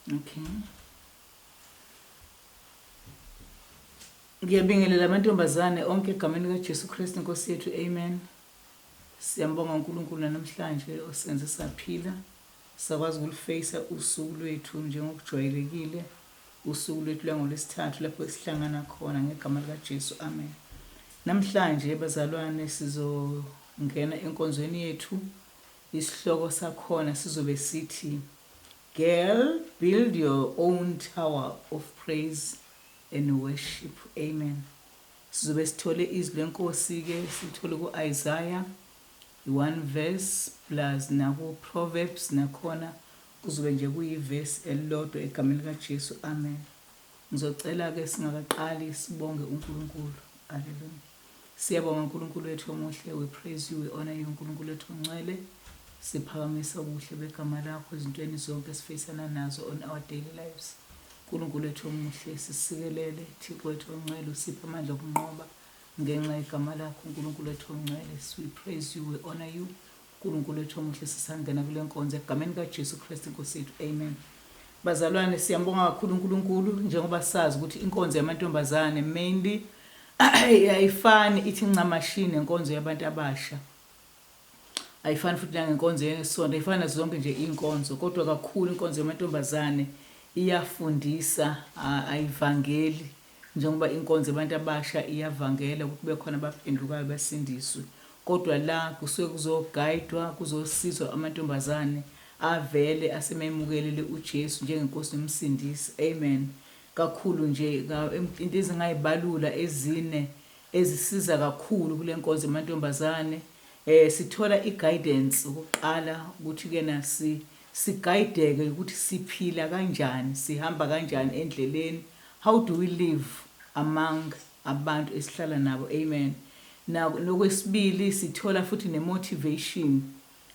Okay. Ngiyabingelela amantombazane onke egameni kaJesu Kristu Nkosi yethu. Amen. Siyambonga uNkulunkulu namhlanje osenze saphila. Sakwazi ukulufeyisa usuku lwethu njengokujwayelekile, usuku lwethu lwangoLwesithathu lapho sihlangana khona ngegama likaJesu. Amen. Namhlanje bazalwane sizongena enkonzweni yethu. Isihloko sakhona sizobe sithi Girl build your own tower of praise and worship. Amen. Sizobe sithole izwi lenkosi ke sithole kuIsaiah I one verse plus naku Proverbs nakhona kuzobe nje kuyi verse elilodwa egameni lika Jesu amen. Ngizocela ke singakaqali sibonge uNkulunkulu. Hallelujah. Siyabonga uNkulunkulu wethu omuhle, we praise you, we honor you uNkulunkulu wethu ongcwele. Siphakamisa ubuhle begama lakho ezintweni zonke esifeyisana nazo on our daily lives. uNkulunkulu wethu omuhle sisikelele, Thixo wethu ongcwele usiphe amandla okunqoba. Ngenxa yegama lakho Nkulunkulu wethu ongcwele, we praise you, we honor you. Nkulunkulu wethu omuhle sisangena kule nkonzo egameni kaJesu Kristu Nkosi yethu. Amen. Bazalwane siyambonga kakhulu uNkulunkulu njengoba sazi ukuthi inkonzo yamantombazane mainly ayifani ithi ncamashi nenkonzo yabantu abasha. Ayifani futhi nangenkonzo yesonto, ayifani nazo zonke nje inkonzo kodwa kakhulu inkonzo yamantombazane iyafundisa ayivangeli. Uh, Njengoba inkonzo yabantu abasha iyavangela ukuthi kube khona abaphendukayo basindiswe, kodwa la kusuke kuzogayidwa, kuzosizwa amantombazane avele asememukelele uJesu njengeNkosi noMsindisi. Amen. Kakhulu nje, ka, into ezingayibalula ezine ezisiza kakhulu kule nkonzo yamantombazane, eh, sithola i-guidance ukuqala ukuthi kena si Sigayideke ukuthi siphila kanjani, sihamba kanjani endleleni, how do we live among abantu esihlala nabo, Amen. Na, nokwesibili sithola futhi ne motivation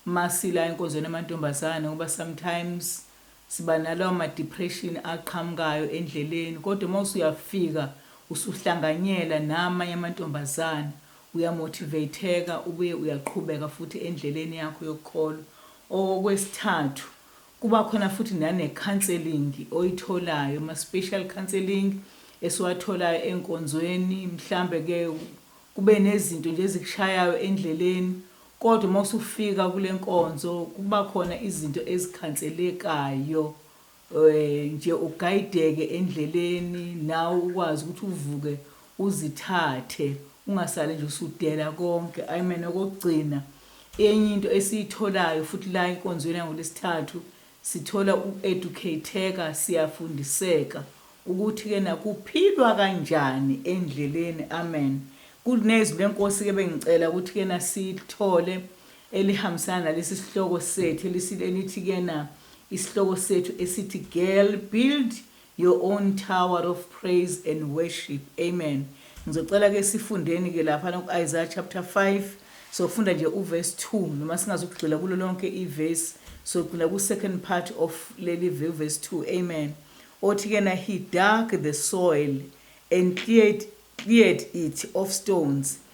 uma sila enkonzweni yamantombazane ngoba sometimes siba nalawo ma depression aqhamukayo endleleni kodwa uma usuyafika usuhlanganyela namanye amantombazane Uyamotivateka, ubuye uyaqhubeka futhi endleleni yakho yokuqolwa. Okwesithathu, kuba khona futhi nanekhanselingi oyitholayo, ama-special counselling esiwatholayo enkonzweni, mhlambe-ke kube nezinto nje ezikushayayo endleleni, kodwa uma usufika kule nkonzo kuba khona izinto ezikhanselekayo. nje ugayideke endleleni nawe ukwazi ukuthi uvuke uzithathe ungasale nje usudela konke amen okokugcina enye into esiyitholayo futhi la enkonzweni yangolesithathu sithola ueducateka siyafundiseka ukuthi ke nakuphilwa kanjani endleleni amen kunezwi lenkosi ke bengicela ukuthi ke nasilithole elihambisana nalesi sihloko sethu elisile elithi kena isihloko sethu esithi girl build your own tower of praise and worship amen ngizocela ke sifundeni ke lapha ku Isaiah chapter 5 sokufunda nje uverse 2 noma singazukugxila kulo lonke iverse sogcina ku second part of leli verse 2 amen othi ke na he dug the soil and cleared cleared it of stones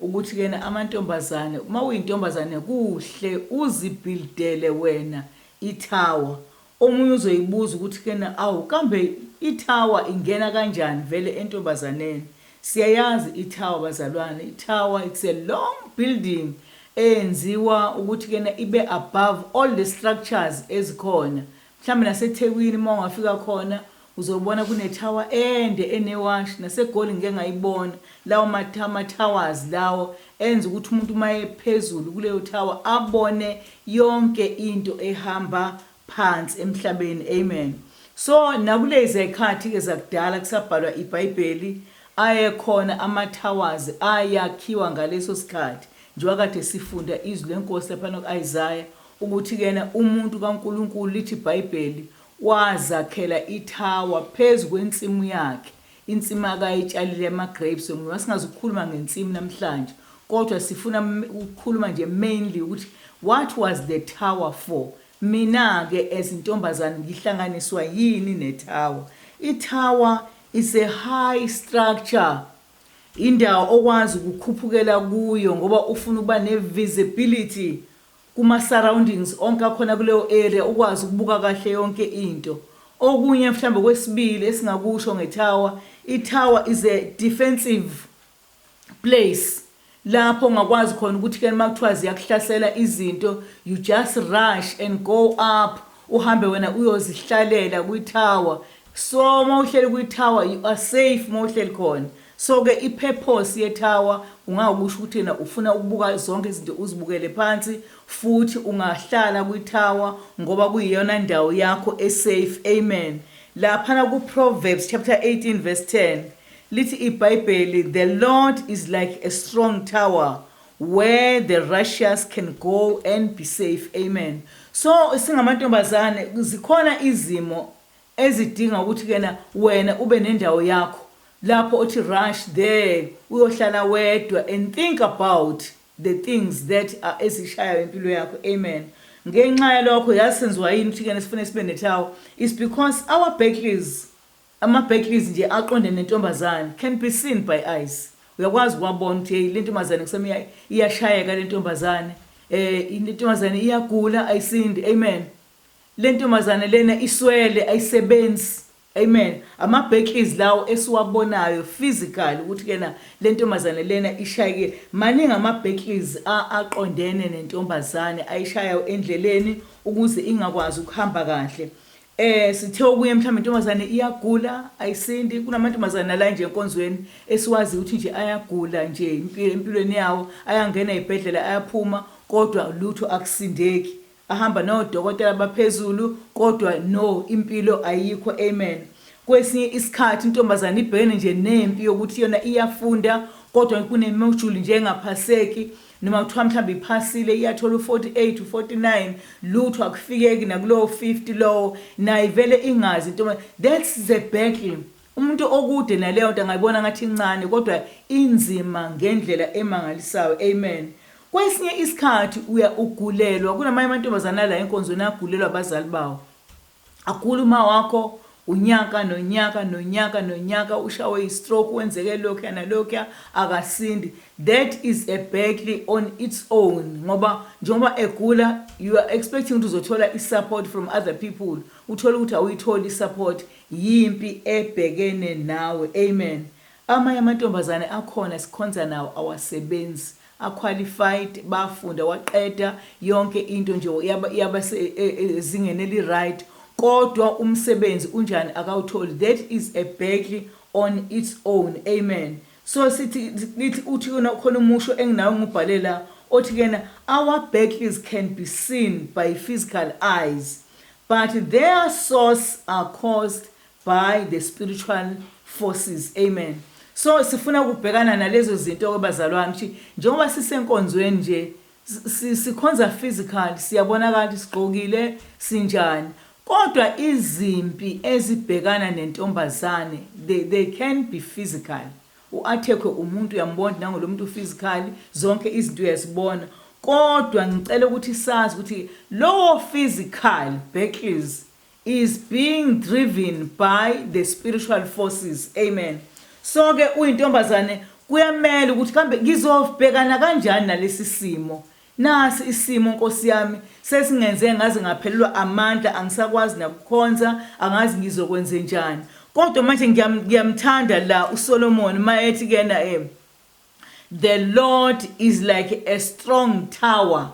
Ukuthi ke amantombazane uma uyintombazane kuhle uzi buildele wena I tower omunye uzoyibuza ukuthi ke awu kambe I tower ingena kanjani vele entombazaneni siyayazi I tower bazalwane I tower it's a long building eyenziwa ukuthi ke ibe above all the structures ezikhona mhlambe naseThekwini uma ungafika khona Uzobona kune tower ende ene wash nase goli ngike ngayibona lawo matama towers lawo enza ukuthi umuntu maye phezulu kuleyo tower abone yonke into ehamba phansi emhlabeni amen so nakulezi ekhathi ke zakudala kusabhalwa ibhayibheli ayekhona ama towers ayakhiwa ngaleso sikhathi njengoba kade sifunda izwi lenkosi lapha ku Isaiah ukuthi kena umuntu kaNkuluNkulu lithi ibhayibheli Wazakhela ithawa phezu kwensimu yakhe, insimu akayitshalile yamagrapes. Noma singazi ukukhuluma ngensimu namhlanje, kodwa sifuna ukukhuluma nje mainly ukuthi what was the tower for? Mina-ke as intombazane ngihlanganiswa yini nethawa? Ithawa is a high structure, indawo okwazi ukukhuphukela kuyo ngoba ufuna ukuba ne-visibility kuma surroundings onke akhona kuleyo area ukwazi ukubuka kahle yonke into. Okunye mhlawumbe okwesibili esingakusho nge tower, i tower is a defensive place lapho ongakwazi khona ukuthi ke makuthiwa ziyakuhlasela izinto you just rush and go up uhambe wena uyozihlalela kwi tower So uma uhleli kwi tower you are safe uma uhleli khona. So ke i purpose ye tower ungakusho ukuthi yena ufuna ukubuka zonke izinto uzibukele phansi futhi ungahlala kwi tower ngoba kuyiyona ndawo yakho e safe. Amen. Laphana ku Proverbs chapter 18 verse 10 lithi iBhayibheli the Lord is like a strong tower where the righteous can go and be safe. Amen. So singamantombazane zikhona izimo ezidinga ukuthi kena wena ube nendawo yakho lapho othi rush there uyohlala wedwa and think about the things that are ezishayayo impilo yakho amen ngenxa yalokho yazi senziwa yini ukuthi kena sifune sibe netawo is because our backleys ama backleys nje aqonde nentombazane can be seen by eyes uyakwazi kwabona ukuthi hey lentombazane kusema iyashayeka lentombazane eh intombazane iyagula ayisindi amen Lentombazane lena iswele ayisebenzi. Amen ama backys lawo esiwabonayo physical ukuthi kena lentombazane lena ishayike maningi ama backys a aqondene nentombazane ayishayayo endleleni ukuze ingakwazi ukuhamba kahle eh sithe okunye mhlawumbe intombazane iyagula ayisindi kunamantombazane nala nje enkonzweni esiwazi ukuthi nje ayagula nje impilo empilweni yawo ayangena ezibhedlela ayaphuma kodwa lutho akusindeki Ahamba no dokotela baphezulu kodwa no impilo ayikho amen kwesinye isikhathi intombazane ibhekene nje nempi yokuthi yona iyafunda kodwa kunemojuli nje engaphaseki noma kuthiwa mhlawumbe iphasile iyathola u-48 u-49 lutho akufikeki nakulowo 50 lowo naye vele ingazi intombazane that's the battle Umuntu okude naleyonto angayibona ngathi incane kodwa inzima ngendlela emangalisayo. Amen. Kwesinye isikhathi uya ugulelwa, kunamanye amantombazane ala enkonzweni agulelwa abazali bawo. Agula uma wakho unyaka nonyaka nonyaka nonyaka ushawe yistroke wenzeke lokhuya nalokhuya akasindi. That is a battle on its own ngoba njengoba egula you are expecting ukuthi uzothola isupport from other people uthole ukuthi awuyitholi isupport Yimpi ebhekene nawe. Amen. Amanye amantombazane akhona esikhonza nawo awasebenzi. A qualified, bafunda, waqeda, yonke into nje yaba, yaba se, e, e, ezingeni eliright, kodwa umsebenzi unjani akawutholi. That is a battle on its own. Amen. So sithi, lithi uthi kona khona umusho enginawo ngubhale la, othi kena, Our battles can be seen by physical eyes, But their source are caused by the spiritual forces. Amen. So sifuna ukubhekana nalezo zinto kwabazalwane ukuthi njengoba sisenkonzweni nje sikhonza physical siyabonakala ukuthi sigqokile sinjani kodwa izimpi ezibhekana nentombazane they, they can be physical U athekwe umuntu uyambona nangu lomuntu physically zonke izinto uyazibona kodwa ngicela ukuthi sazi ukuthi lowo physical battles is being driven by the spiritual forces amen so ke uyintombazane kuyamela ukuthi kambe ngizobhekana kanjani nalesi simo Nasi isimo nkosi yami sesingenze ngaze ngaphelelwa amandla angisakwazi nakukhonza angazi ngizokwenzenjani kodwa manje ngiyamthanda la uSolomon mayethi kuyena em the Lord is like a strong tower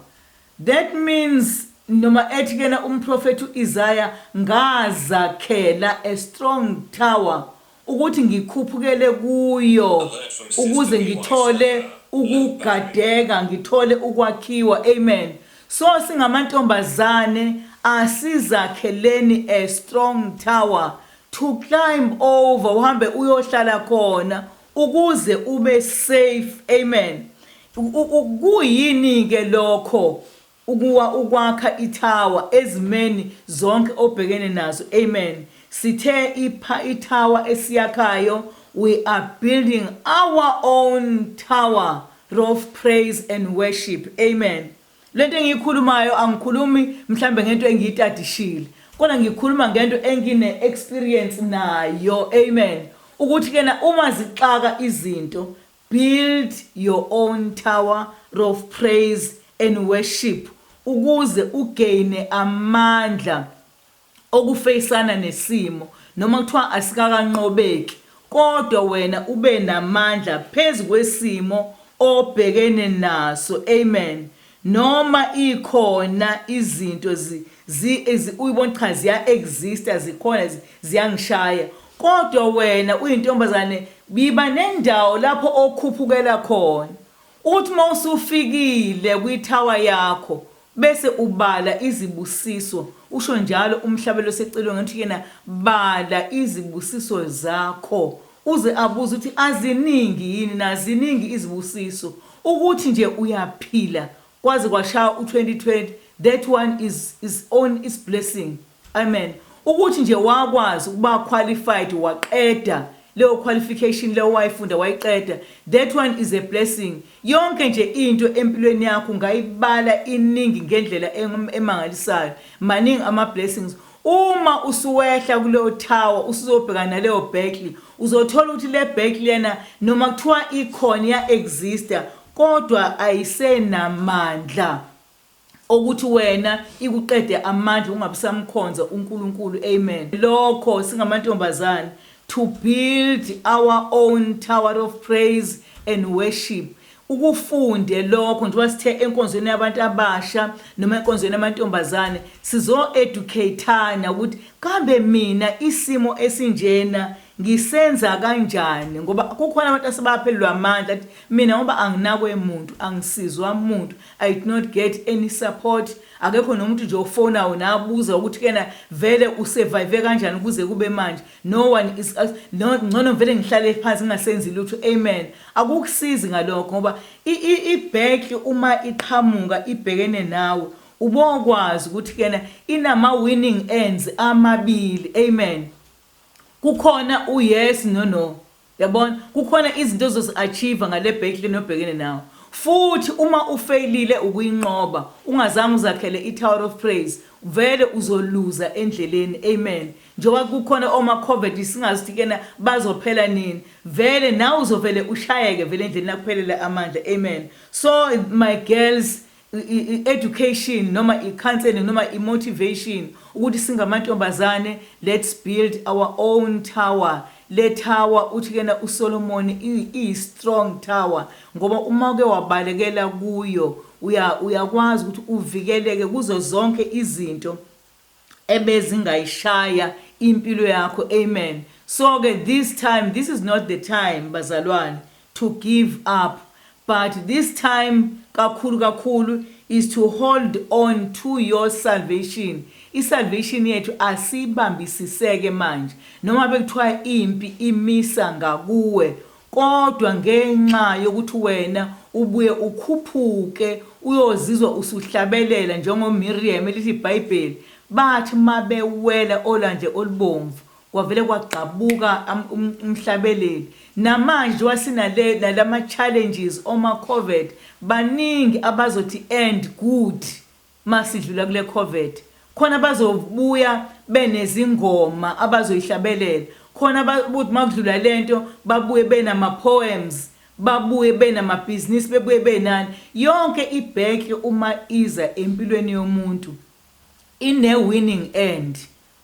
that means noma ethi kuyena umprofethi uIsaya ngazakhela a strong tower Ukuthi ngikhuphukele kuyo ukuze ngithole ukugadeka, ngithole ukwakhiwa. Amen. So singamantombazane asizakheleni a strong tower to climb over, uhambe uyohlala khona ukuze ube safe. Amen. Kuyini-ke lokho Ukuwa ukwakha ithawa ezimeni zonke obhekene nazo amen sithe ipha ithawa esiyakhayo we are building our own tower rof praise and worship amen lento engiyikhulumayo angikhulumi mhlambe ngento engiyitadishile kodwa ngikhuluma ngento engine experience nayo amen ukuthi kena uma zixaka izinto Build your own tower of praise and worship ukuze ugaine amandla okufeyisana nesimo noma kuthiwa asikakanqobeki kodwa wena ube namandla phezu kwesimo obhekene naso amen Noma ikhona izinto zi zi zi uyibona cha ziya exista zikhona zi ziyangishaya kodwa wena uyintombazane biba nendawo lapho okhuphukela khona ukuthi uma usufikile kwi tower yakho bese ubala izibusiso usho njalo umhlabelo secilonge ukuthi yena bala izibusiso zakho Uze abuze ukuthi aziningi yini na ziningi izibusiso ukuthi nje uyaphila kwaze kwashaya u 2020 that one is is own is blessing amen ukuthi nje wakwazi ukuba qualified waqeda leyo qualification leyo wayifunda wayiqeda that one is a blessing yonke nje into empilweni yakho ngayibala iningi ngendlela emangalisayo maningi ama blessings Uma usuwehla kuleyo tower usuzobhekana naleyo Berkeley uzothola ukuthi le Berkeley yana noma kuthiwa ikhona ya exista kodwa ayisenamandla okuthi wena ikuqede amandla ungabisamkhonza uNkulunkulu amen lokho singamantombazane to build our own tower of praise and worship Ukufunde lokho njengoba sithe enkonzweni yabantu abasha noma enkonzweni yamantombazane sizo educate-ana ukuthi kambe mina isimo esinjena ngisenza kanjani ngoba kukhona abantu asebaphelelwa amandla athi mina ngoba anginakwe muntu angisizwa muntu I did not get any support akekho nomuntu nje ofonayo nabuza ukuthi kena vele usurvive kanjani kuze kube manje No one is us no ngcono ngivele ngihlale phansi ngingasenzi lutho amen akukusizi ngalokho ngoba ibhekli uma iqhamuka ibhekene nawe ubokwazi ukuthi kena inama winning ends amabili amen kukhona u yes no no Yabona, kukhona izinto ozozi-achieve-a ngale battle nobhekene nawo. Futhi uma ufeyilile ukuyinqoba, ungazange uzakhele iTower of Praise, vele uzoluza endleleni. Amen. Njengoba kukhona omakhovethi singazi ukuthi kuyena bazophela nini. Vele nawe uzovele ushayeke vele endleleni akuphelele amandla. Amen. So my girls, i-education noma i-counselling noma i-motivation ukuthi singamantombazane let's build our own tower le tower uthi kuyena uSolomon iyi-strong tower ngoba uma uke wabalekela kuyo uyakwazi ukuthi uvikeleke kuzo zonke izinto ebezingayishaya impilo yakho amen so ke this time this is not the time bazalwane to give up but this time kakhulu kakhulu is to hold on to your salvation isalvation yethu asiyibambisiseke manje noma bekuthiwa impi imisa ngakuwe Kodwa ngenxa yokuthi wena ubuye ukhuphuke uyozizwa usuhlabelela njengoMirriam, elithi iBhayibheli, Bathi uma bewela oLwandle oluBomvu, kwavele kwagqabuka umhlabeleli. Namanje njengoba sinale, nalama-challenges, oma-Covet, baningi abazothi, And good. Masidlula kule covet khona bazobuya benezingoma abazoyihlabelela khona babuthi makudlula lento babuye benama poems babuye benamabhizinisi bebuye benani yonke ibhenki uma iza empilweni yomuntu ine winning end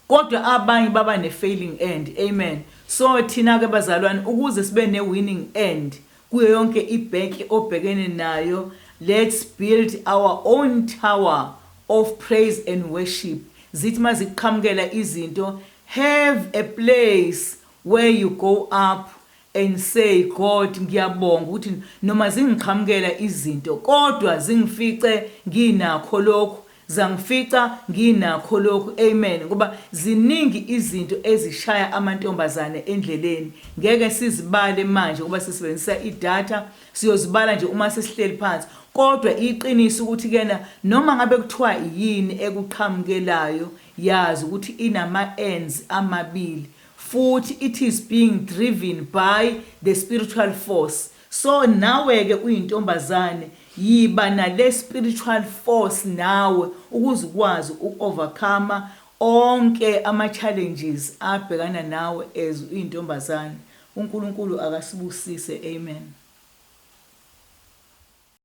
Kodwa abanye baba ne failing end. Amen. So thina ke bazalwane ukuze sibe ne winning end kuyo yonke i bank obhekene nayo let's build our own tower of praise and worship zithi mazikuqhamukela izinto have a place where you go up and say God ngiyabonga ukuthi noma zingiqhamukela izinto kodwa zingifice nginakho lokhu zangifica nginakho lokhu amen ngoba ziningi izinto ezishaya amantombazane endleleni ngeke sizibale manje ngoba sisebenzisa idata siyozibala nje uma sesihleli phansi kodwa iqiniso ukuthi kena noma ngabe kuthiwa yini ekuqhamukelayo yazi ukuthi inama ends amabili futhi it is being driven by the spiritual force so naweke uyintombazane yiba nale spiritual force nawe ukuze ukwazi uku overcomer onke ama challenges abhekana nawe as uyintombazane uNkulunkulu akasibusise amen.